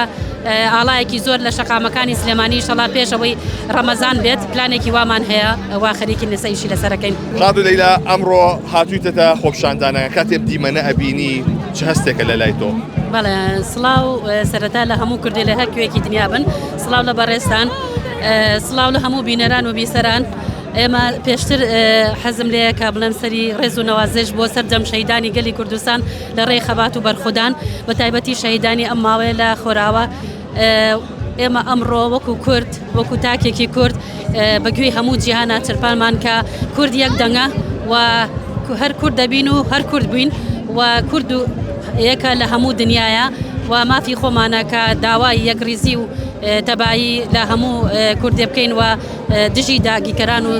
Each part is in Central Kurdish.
ئاڵایەکی زۆر لە شەقامەکانی سلێمانی ئیشەڵا پێش ئەوەی ڕەمەزان بێت پلانێکی وامان هەیە ئەوە خەریکی نسەیشی لەسەرەکەین ڕادو لەیلا ئەمڕۆ هاتوویتەتە خۆپشاندانە کاتێ دیمەنە ئەبینی چ هەستێکە لە لای تۆ؟ بەڵێ سڵاو سەرەتا لە هەموو کوردی لە هەر کوێکی دنیا بن سڵاو لە بەڕێستان سڵاو لە هەموو بینەران و بیسەران ئێمە پێشتر حەزم لەیە کە بڵێم سەری ڕێز و نەوازش بۆ سەردەم شەیدانی گەلی کوردستان لە ڕێی خەبات و بەرخودان بە تایبەتی شەهیدانی ئەم ماوەیە لە خۆراوە ئێمە ئەمڕۆ وەکو کورد وەکو تاکێکی کورد بە گوێی هەموو جیهانا چرپانمان کە کورد یەک دەنگە و هەر کورد دەبین و هەر کورد بووین و کورد و یەکە لە هەموو دنیاە و مافی خۆمانە کە داوای یەکریزی و تەبایی لە هەموو کوردێ بکەین و دژی داگیکەران و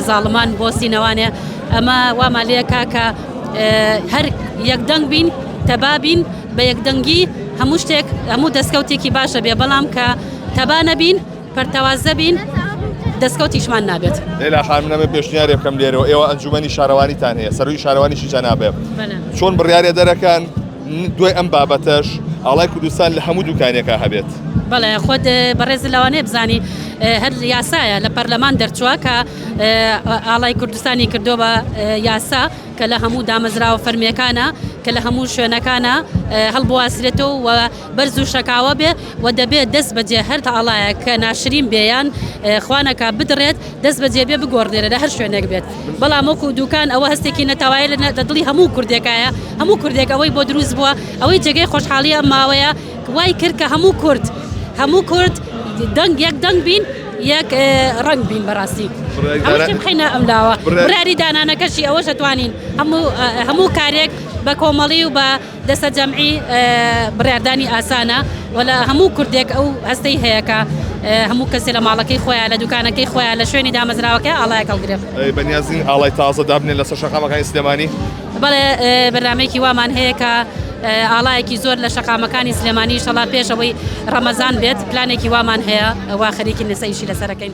زاڵمان بۆ سینەوانێ ئەمە وامان لەکە کە هەر یەکدەنگ بین تەبا بین بە یەکدەنگی هەموو شتێک هەموو دەستکەوتێکی باش دەبێ بەڵام کە تەبا نەبین پەرتەوازە بین دەستکەوتیشمان نابێت لەلا خانم نەمە پێشنیارێ بکەم لێرەوە ئێوە ئەنجومەنی شارەوانیتان هەیە سەروی شارەوانیشی جەنابێ چۆن بڕیارێ دەرەکان دوای ئەم بابەتەش ئاڵای کوردستان لە هەموو دوکانێکە هەبێت بەڵێ خۆت بەڕێز لەوانێ بزانی هەر یاسایە لە پەرلەمان دەرچووە کە ئاڵای کوردستانی کردووە بە یاسا کە لە هەموو دامەزراوە فەرمیەکانە کە لە هەموو شوێنەکانە هەڵبواسرێتەوە و بەرز و شەکاوە بێ و دەبێت دەست بەجێ هەر تاڵایە کە ناشرین بێیان خوانەکە بدرێت دەست بەجێ بێ بگۆڕنێرە لە هەر شوێنێک بێت بەڵام وەکو دوکان ئەوە هەستێکی نەتەوایە لە دڵی هەموو کوردێکایە هەموو کوردێک ئەوەی بۆ دروست بووە ئەوەی جێگەی خۆشحاڵیە ماوەیە وای کرد کە هەموو کورد هەموو کورد دەنگ یەک دەنگ بین یەک ڕنگ بین بەڕاستی بخینە ئەم لاوە بڕاری دانانەکەشی ئەوە شەتوانین هەموو کارێک بە کۆمەڵی و بە دەسە جەمعی بڕاردانی ئاسانە وەلا هەموو کوردێک ئەو هەستەی هەیەکە هەموو کەسێ لە ماڵەکەی خۆیان لە دوکانەکەی خۆیان لە شوێنی دامەزراوەکە ئاڵای کەڵگرێت بەنیازین ئاڵای تازە دابنێن لەسەر شەقامەکانی سلێمانی بەڵێ بەرنامەیەکی وامان هەیە کە ئاڵایەکی زۆر لە شەقامەکانی سلێمانی شەڵا پێش ئەوەی ڕەمەزان بێت پلانێکی وامان هەیە ئەوە خەریکی نسەیشی لەسەرەکەین.